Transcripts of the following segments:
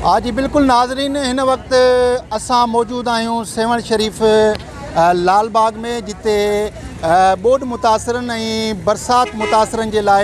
ها جي بلڪل ناظرين هن وقت اسان موجود آهيون سيوهڻ شريف لال باغ ۾ جتي ٻوڏ متاثرن ۽ برسات متاثرن جي لاء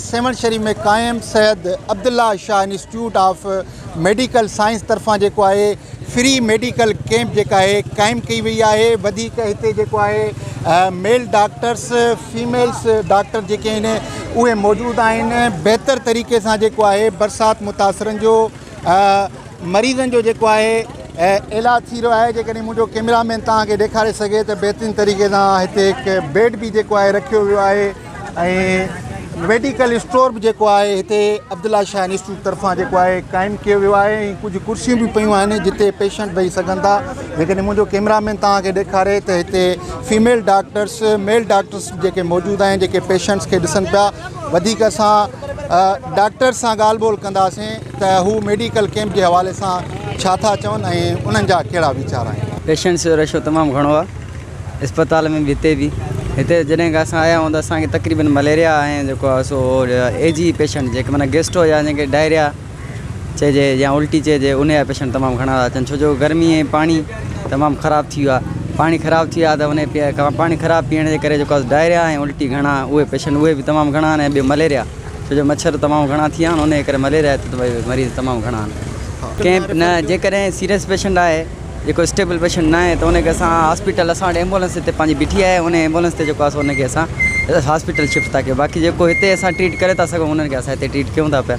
سيوهڻ شريف ۾ قائم Syed Abdullah Shah institute of medical science طرفان جيڪو آهي فري ميڊيڪل ڪيمپ جيڪا آهي قائم ڪئي وئي آهي وڌيڪ هتي جيڪو آهي ميل ڊاڪٽرس فيميلس ڊاڪٽر جيڪي آهن اهي موجود آهن بهتر طريقي سان جيڪو آهي برسات متاثرن جو مريضن جو جيڪو آهي علاج ٿي رهيو آهي جيڪڏهن منهنجو ڪيمرا مين توهان کي ڏيکاري سگهي ته بهترين طريقي سان هتي هڪ بيڊ به جيڪو آهي رکيو ويو آهي ۽ ميڊيڪل اسٽور به جيڪو آهي هتي عبدالله شاهه انسٽيٽيوٹ طرفان جيڪو آهي قائم ڪيو ويو آهي ۽ ڪجهه ڪرسيون به پيون آهن جتي پيشنٽ ويهي سگهن ٿا جيڪڏهن منهنجو ڪيمرا مين توهان کي ڏيکاري ته هتي فيميل ڊاڪٽرس ميل ڊاڪٽرس جيڪي موجود آهن جيڪي پيشنٽس کي ڏسن پيا وڌيڪ اسان ڊاڪٽرس سان ڳالهه ٻولهه ڪنداسين ته هو ميڊيڪل ڪيمپ جي حوالي سان ڇا ٿا چون ۽ انهن جا ڪهڙا ويچار آهن پيشنٽس جو رشو تمام گهڻو آهي اسپتال ۾ به هتي به هتي جڏهن کان اسان آيا آهيون ته اسان کي تقريبن مليريا ۽ جيڪو آهي سو اي جي پيشنٽ جيڪي معنيٰ گيسٽو يا جن کي ڊائريا چئجي يا الٽي چئجي انهي جا پيشنٽ تمام گهڻا ٿا اچن ڇو جو گرمي ۽ پاڻي تمام خراب ٿي ويو آهي پاڻي خراب ٿي ويو آهي ته انهي پي پاڻي خراب پيئڻ جي ڪري جيڪو آهي ڊائريا ۽ الٽي گهڻا اهي پيشنٽ اهي به تمام گهڻا آهن ۽ ٻيو مليريا ڇو جو مڇر تمام گهڻا ٿي ويا آهن انهي ڪري مليريا هتي ته ڀئي مريض تمام گهڻا آهن ڪيمپ نه جيڪڏهن سيريس پيشنٽ آهي جيڪو اسٽيبل پيشنٽ نه آهي ته انهي کي اسان هاسپيٽل اسان وٽ ايمبولينس هتي پنهنجي بيٺي آهي انهي ايمبولينس تي جيڪو آهي سو انهي کي اسان هاسپيٽل شفٽ ٿا ڪيون باقي جيڪو هتي اسان ٽريٽ ڪري ٿا سگهون انهن کي اسان هتي ٽريٽ ڪيون ٿا پيا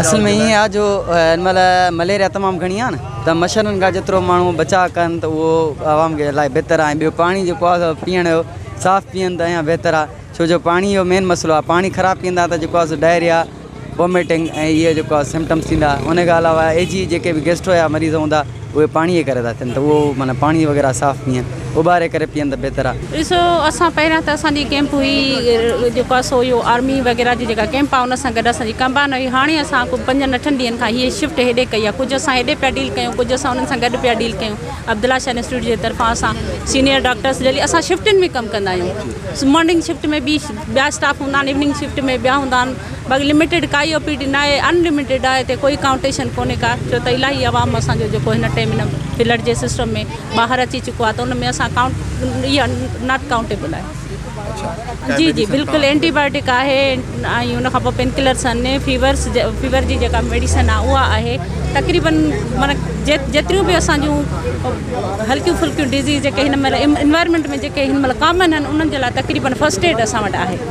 اصل ۾ ائين آ جو هن مهل مليريا تمام گهڻي آ نه ته مڇرن کان جيترو ماڻهو بچاء ڪن ته اهو عوام کي الاهي بهتر آ ۽ ٻيو پاڻي جيڪو آ پيئڻ جو صاف پيئن ته اڃان بهتر آ ڇو جو پاڻي جو مين مسئلو آ پاڻي خراب پيئندا ته جيڪو آ ڊائريا ووميٽنگ ۽ اهي جيڪو آ سمٽمس ٿيندا ان کان علاوه اي جي جيڪي به گيسٽرو جا مريض هوندا اهي پاڻي جي ڪري ٿا ٿين ته اهو معنيٰ پاڻي وغيره صاف پيئن اٻاري ڪري پيئن ته بهتر آهي. ڏسو اسان پهريان ته اسان جي ڪيمپ هئي جيڪو اسو اهو آرمي وغيره جي جيڪا ڪيمپ آهي ان سان گڏ اسان جي ڪمبائن هئي هاڻي اسان ڪو پنجن اٺن ڏينهن کان هيء شفٽ هيڏي ڪئي آهي ڪجهه اسان هيڏي پيا ڊيل ڪيون ڪجهه اسان انهن سان گڏ پيا ڊيل ڪيون عبدالله شاهه انسٽيٽيوٽ جي طرفان اسان سينيئر ڊاڪٽرس ڊيلي اسان شفٽن ۾ ڪم ڪندا آهيون مارننگ شفٽ ۾ ٻي ٻيا اسٽاف هوندا آهن ايوننگ شفٽ ۾ ٻيا هوندا آهن باقي لميٽيڊ ڪائي او پي ڊي ناهي ان لميٽيڊ آهي تي ڪوئي ڪائونٽيشن ڪونهي ڪا ڇو ته الاهي عوام اسان جو جيڪو هن ٽائم هن فلڊ جي سسٽم ۾ ٻاهر اچي چڪو آهي ته ان ۾ اسان ڪائونٽ اها ناٽ ڪائونٽيبل آهي جي جي بلڪل اينٽي بايوٽڪ آهي ۽ ان کان پوء پين ڪلرس آهن فيورس فيور جي جيڪا ميڊيسن آهي اها آهي تقريبن مانا جيتريون به اسان جون هلڪيون ڦلڪيون ڊزيز جيڪي هن مهل انوائرمنٽ ۾ جيڪي هن مهل ڪامن آهن انهن جي لاء تقريبن فسٽ ايڊ اسان وٽ آهي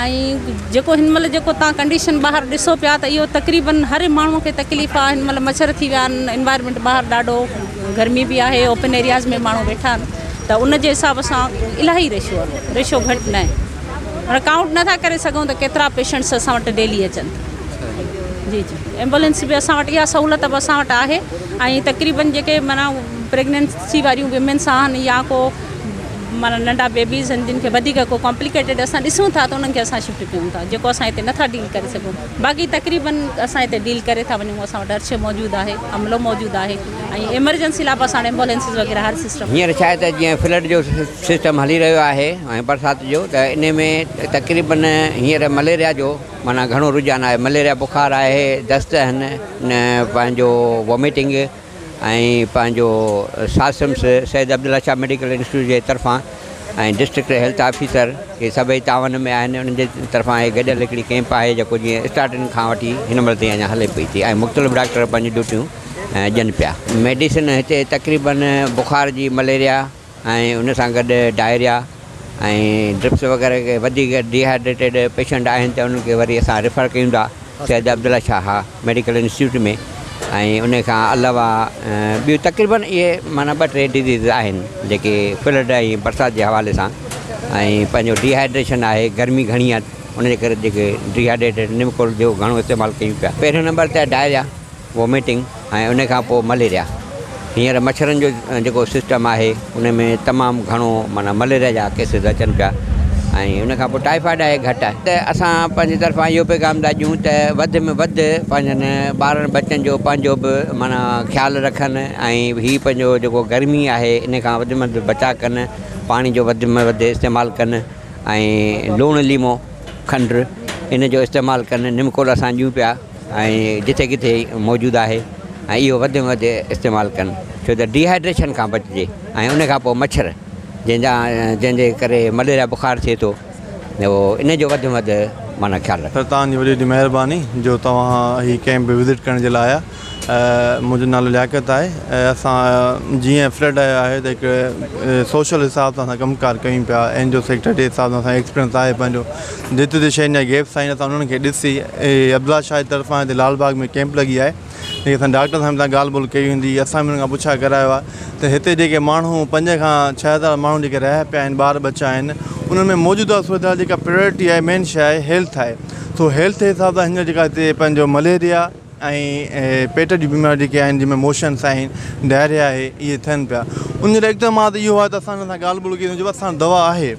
۽ جيڪو هن مهل جيڪو تان ڪنڊيشن ٻاهر ڏسو پيا ته اهو تقريبا هر ماڻهو کي تڪليف آهي هن مهل مڇر ٿي ويا آهن انوائرمينٽ ٻاهر ڏاڍو گرمي به آهي اوپن ايرياز ۾ ماڻهو ويٺا آهن ته ان جي حساب سان الاهي ريشو آهي ريشو گهٽ نه هاڻي ڪائونٽ نٿا ڪري سگهون ته ڪيترا پيشنٽس اسان وٽ ڊيلي اچن جي جي ايمبولينس به اسان وٽ اها سهولت به اسان وٽ آهي ۽ تقريبا جيڪي مانا پريگنينسي واريون ويمنس آهن يا کو معنيٰ ننڍا بيبيز آهن جن کي وڌيڪ ڪو ڪامپليڪيٽيڊ اسان ڏسون ٿا ته انهن کي اسان شفٽ ڪيون ٿا جيڪو اسان هتي نٿا ڊيل ڪري سگهون باقي تقريبن اسان هتي ڊيل ڪري ٿا وڃون اسان وٽ ارڇي موجود آهي عملو موجود آهي ۽ ايمرجنسي لاء به اسان وٽ ايمبولينسز وغيره هر سسٽم هينئر ڇا آهي ته جيئن فلڊ جو سسٽم هلي رهيو آهي ۽ برسات جو ته ان ۾ تقريبن هينئر مليريا جو معنيٰ گهڻو رجحان آهي مليريا بخار آهي دست آهن نه پنهنجو ووميٽنگ ۽ پنهنجو ساثمس سيد عبدالله شاهه ميڊيڪل انسٽيٽيوٽ جي طرفان ۽ ڊسٽرڪٽ هيلٿ آفيسر اهي سڀئي تعاون ۾ آهن انهن جي طرفان هي گڏيل هڪڙي ڪئمپ آهي جيڪو جيئن اسٽارٽنگ کان وٺي هن مهل تائين اڃا هلي پئي ٿي ۽ مختلف ڊاڪٽر پنهنجون ڊيوٽيون ڏين پيا ميڊيسن هتي تقريبن بخار جي مليريا ۽ ان سان گڏ ڊائريا ۽ ڊرپس وغيره کي وڌيڪ ڊيهائيڊريٽيڊ پيشنٽ آهن ته انهن کي وري اسان ريفر ڪيون ٿا سيد عبدالله شاهه ميڊيڪل انسٽيٽيوٽ ۾ ۽ ان کان علاوه ٻيون تقريبن اهي معنيٰ ٻه ٽي ڊزيز آهن جيڪي فلڊ ۽ برسات جي حوالي سان ۽ پنهنجو ڊيهائيڊريشن آهي گرمي گهڻي آهي ان جي ڪري جيڪي ڊيهائيڊريٽيڊ نمڪول جو گهڻو استعمال ڪيون پيا پهريون نمبر ته ڊائريا ووميٽنگ ۽ ان کان پوء مليريا هينئر مڇرن جو جيڪو سسٽم آهي ان ۾ تمام گهڻو معنيٰ مليريا جا ڪيسز اچن پيا ۽ ان کان پوء ٽائيفائيڊ آهي گهٽ آهي ته اسان پنهنجي طرفان اهو پيغام ٿا ڏيون ته وڌ ۾ وڌ پنهنجن ٻارن بچن جو پنهنجو به معنيٰ خيال رکن ۽ هي پنهنجو جيڪو گرمي آهي ان کان وڌ ۾ وڌ بچاء ڪن پاڻي جو وڌ ۾ وڌ استعمال ڪن ۽ لوڻ ليمو کنڊ ان جو استعمال ڪن نمڪولا سان ڏيون پيا ۽ جتي ڪٿي موجود آهي ۽ اهو وڌ ۾ وڌ استعمال ڪن ڇو ته ڊي هائيڊريشن کان بچجي ۽ ان کان پوء مڇر جنهن جا جنهن جي ڪري مليريا بخار ٿئي ٿو اهو ان جو وڌ ۾ وڌ معنيٰ خيال رکن. سر توهان جي وڏي وڏي مهرباني جو توهان هي ڪئمپ وزٽ ڪرڻ جي لاء آيا منهنجو نالو لياقت آهي اسان جيئن فلڊ آيو آهي ته هڪ سوشل حساب سان اسان ڪم ڪار ڪيون پيا اين جي او سيڪٽر جي حساب سان اسان ايڪسپيرينس آهي پنهنجو جت جت شين جا گيپس آهن اسان انهن کي ڏسي اهي عبدالله شاهه جي طرفان هتي لال باغ ۾ ڪيمپ لڳي آهي جيڪي اسان ڊاڪٽر صاحب سان ڳالهه ٻولهه ڪئي هوندي اسان به انهن کان پڇا ڪرايو آهي ته هتي جيڪي ماڻهو پنج کان ڇهه هزار ماڻهو جيڪي رهيا پيا آهن ٻار ٻچا آهن انهن ۾ موجوده صورتحال جيڪا پريورٽي آهي مين شاهي هيلٿ آهي سو هيلٿ حساب سان هينئر جيڪا هتي پنهنجو مليريا ۽ پيٽ جون بيماريون جيڪي آهن جن ۾ موشنس آهن ڊائريا آهي اهي ٿين پيا ان جو اقدامات اهو آهي ته اسان انهن سان ڳالهه ٻولهه ڪئي وڃي اسان دوا آهي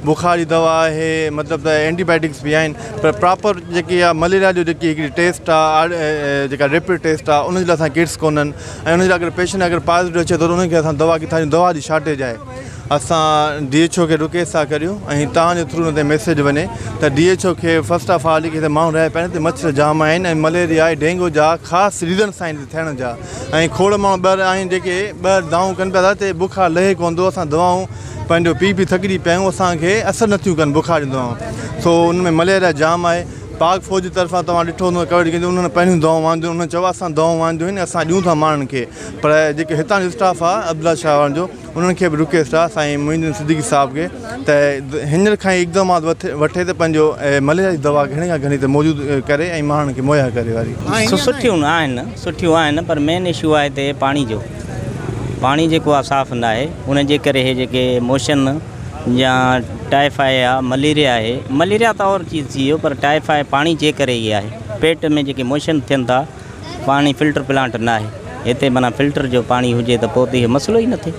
بخار جي دوا آهي مطلب ته اينٽي بايوٽڪس بي آهن پر پراپر جيڪي آهي مليريا جو جيڪي هڪڙي ٽيسٽ آهي جيڪا ريپڊ ٽيسٽ آهي ان جي لاء اسان ڪٽس ڪونهن ۽ ان جي لاء اگر پيشنٽ اگر پازيٽو اچي ٿو ته ان کي اسان دوا ڪٿان ڏيون دوا جي شارٽيج آهي اسان ڊي ايڇ او کي رڪيس ٿا ڪريون ۽ توهان جي ٿرو تي ميسيج وڃي ته ڊي ايڇ او کي فرسٽ آف آل هتي ماڻهو رهيا پيا آهن هتي مڇر جام آهن ۽ مليريا ۽ ڊينگو جا خاص ريزنس آهن هتي ٿيڻ جا ۽ کوڙ ماڻهو ٻيهر آهن جيڪي ٻيهر دانهون ڪن پيا ته هتي بخار لهي ڪونه ٿو اسان دوائون پنهنجو پي پي ٿڪجي پيا آهيون اسان کي اثر نه ٿيون ڪن بخار جون دوائون سو ان ۾ مليريا جام آهي پاڪ فوج جي طرفان توهان ڏٺو هوندو ڪوريڊ ڪيئن ٿيون انهن پنهنجون دوائون وانديون انهن چيو آهي اسان دوائون وانديون آهن اسان ڏيون ٿا ماڻهن کي پر جيڪي هتان جو اسٽاف آ عبدالله شاهه وارن جو انهن کي به رڪيس ٿا سائين معين الدين صديقي صاحب کي ته هينئر کان ئي اقدامات وٺي ته پنهنجو مليريا جي دوا گهڻي کان گهڻي هتي موجود ڪري ۽ ماڻهن کي مهيا ڪري واري سٺيون آهن سٺيون آهن پر مين اشو آهي هتي پاڻي جو پاڻي جيڪو آ صاف ناهي ان جي ڪري هي جيڪي موشن يا ٽائيفائي آ مليريا آهي مليريا ته اور چيز ٿي ويو پر ٽائيفائي پاڻي جي ڪري ئي آهي پيٽ ۾ جيڪي موشن ٿين ٿا پاڻي فلٽر پلانٽ ناهي هتي معنيٰ فلٽر جو پاڻي هجي ته پوء ته اهي مسئلو ئي نه ٿئي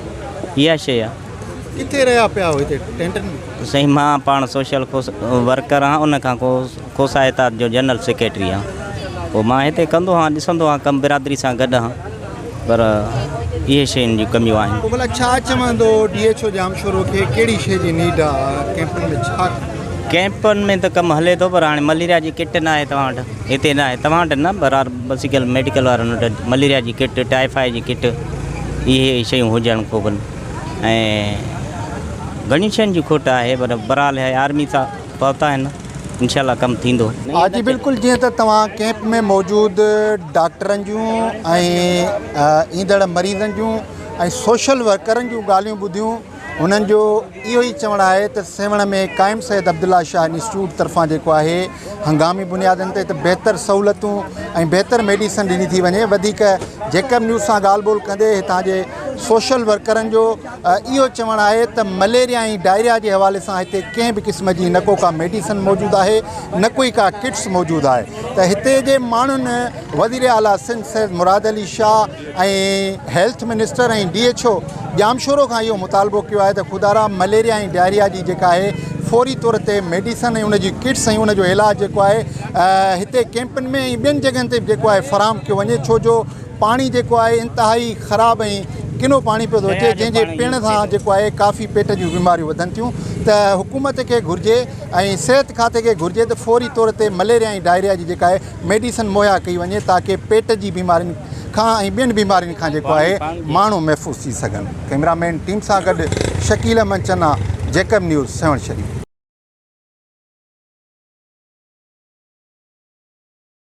اها شيء آهي. ڪٿي رهيا پيا هو هتي ٽينٽن ۾؟ سائين مان پاڻ سوشل ورڪر آهيان ان کان پوء کوسا اتحاد جو جنرل سيڪريٽري آهيان پوء مان هتي ڪندو آهيان ڏسندو آهيان ڪم برادري سان گڏ آهيان پر اهي شين جون ڪميون آهن. پوء ڀلا ڇا چوندو ڊي ايڇ او ڄامشورو کي ڪهڙي شيء جي نيڊ آهي ڪيمپن ۾ ڇا ڪم. ڪيمپن ۾ ته ڪم هلي ٿو پر هاڻي مليريا جي ڪٽ ناهي توهان وٽ. هتي نه آهي توهان وٽ نه برار بسيڪل ميڊيڪل وارن وٽ مليريا جي ڪٽ ٽائيفائي جي ڪٽ اهي شيون هجڻ کوپن ۽ گهڻين شين جي کوٽ آهي پر برال هي آرمي سا پهتا آهن انشاء الله ڪم ٿيندو. ها جي بلڪل جيئن ته توهان ڪيمپ ۾ موجود ڊاڪٽرن جون ۽ ايندڙ مريضن جون ۽ سوشل ورڪرن جون ڳالهيون ٻڌيون هنن جو اهو ئي چوڻ آهي ته سيوهڻ ۾ قائم سيد عبدالله شاهه انسٽيٽيوٽ طرفان جيڪو آهي هنگامي بنيادن تي ته بهتر سهولتون ۽ بهتر ميڊيسن ڏني ٿي وڃي وڌيڪ جيڪب نيوز سان ڳالهه ٻولهه ڪندي هتان جي سوشل ورڪرن جو اهو چوڻ آهي ته مليريا ۽ ڊائريا جي حوالي سان هتي ڪنهن به قسم جي نه ڪو ڪا ميڊيسن موجود آهي نه ڪوئي ڪا ڪٽس موجود آهي ته هتي جي ماڻهن وزير اعليٰ Sindh Syed Murad Ali Shah ۽ health minister ۽ D H O Jamshoro کان اهو مطالبو ڪيو آهي ته خدارا مليريا ۽ ڊائريا جي جيڪا آهي فوري طور تي ميڊيسن ۽ ان جي ڪٽس ۽ ان جو علاج جيڪو آهي هتي ڪيمپن ۾ ۽ ٻين جڳهن تي به جيڪو آهي فراهم ڪيو وڃي ڇو جو پاڻي جيڪو آهي انتهائي خراب ۽ ڪنو پاڻي پيو ٿو اچي جنهن جي پيڻ سان جيڪو آهي ڪافي پيٽ جون بيماريون وڌن ٿيون ته حڪومت کي گهرجي ۽ صحت کاتي کي گهرجي ته فوري طور تي مليريا ۽ ڊائريا جي جيڪا آهي ميڊيسن مهيا ڪئي وڃي تاڪه پيٽ جي بيمارين کان ۽ ٻين بيمارين کان جيڪو آهي ماڻهو محفوظ ٿي سگهن ڪئميرا مين ٽيم سان گڏ شڪيل احمد چنا جيڪب نيوز سيوهڻ شريف.